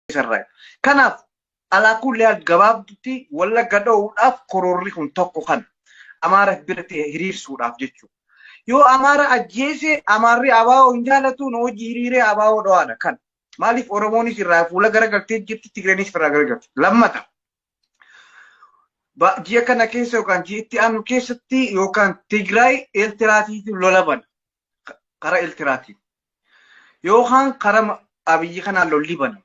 isarraa. Kanaaf alaakulli haal gabaabdutti wallagga dha'uudhaaf kororri kun tokko kana. Amaara biratti hiriirsuudhaaf jechuudha. Yoo Amaara ajjeese Amaarri abaa'oo hin jaalatu nu hojii hiriiree abaa'oo dhawaadha kan. Maaliif Oromoonis irraa fuula garagaltee jirti Tigreenis irraa garagalti. Lammata. Ji'a kana keessa yookaan ji'atti aanu keessatti yookaan Tigraay Eertiraatiin lola bana. kara Eltiraatiin yookaan kara abiyyi kanaan lolli banamu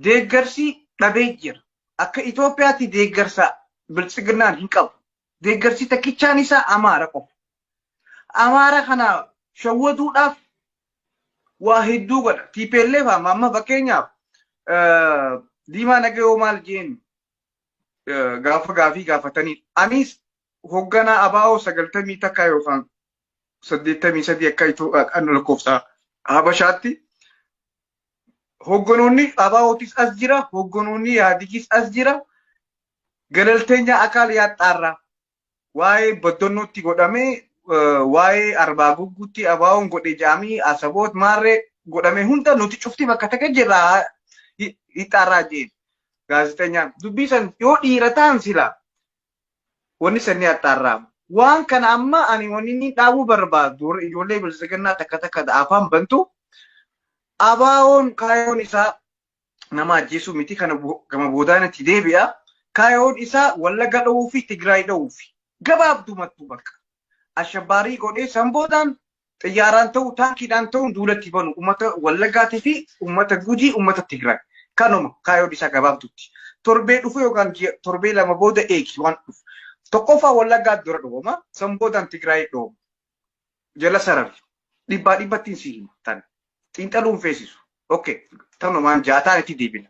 deeggarsi dhabee jira. Akka Itoophiyaatti deeggarsa biltsiginnaan hin qabu. Deeggarsi takkichaan isaa Amaara qofa. Amaara kana shawwaduudhaaf waa hedduu godha. TPLF amma amma fakkeenyaaf diimaa nagayoo maal jeen gaafa gaafii gaafatanii anis hogganaa abaa'oo sagaltamii takkaa yookaan saddeettamii sadii akka Itoophiyaan lakkoofsa Habashaatti hogganoonni Abaawootis as jira, hogganoonni Yaadigis as jira. Galalteenya akaal yaaxxaarraa waa'ee baddannootti godhamee waa'ee arbaa gugguutti abaawoon godhe jaamii asaboot maarree godhame hunda nuti cufti bakka takka jirra hixxaarraa jeen gaazexenyaan dubbii san yoo dhiira ta'an sila Wanni sanni haxxaarraamu. Waan kana amma ani wanni inni dhaabuu barbaadu warra ijoollee bilisiginnaa takka takka da afaan bantu abaawoon kaayoon isaa nama ajjeesuu miti kana bo- gama boodaan itti deebi'a. Kaayoon isaa wallagga dha'uu fi Tigraay dha'uu fi gabaabdumattu bakka. ashabbaarii godhee san boodaan xiyyaaraan ta'u taankiidhaan ta'uun duulatti banu uummata Wallaggaatii fi uummata Gujii uummata Tigraay kanuma kaayoon isaa gabaabduutti torbee dhufu yookaan torbee lama booda eegi waan dhufu tokkoffaa Wallaggaa dura dhooma san boodaan Tigraay dhooma jala sarari dhibbaa dhibbattiin si hima tan xiinxaluun feesisu okay tanumaan jaataan itti deebina.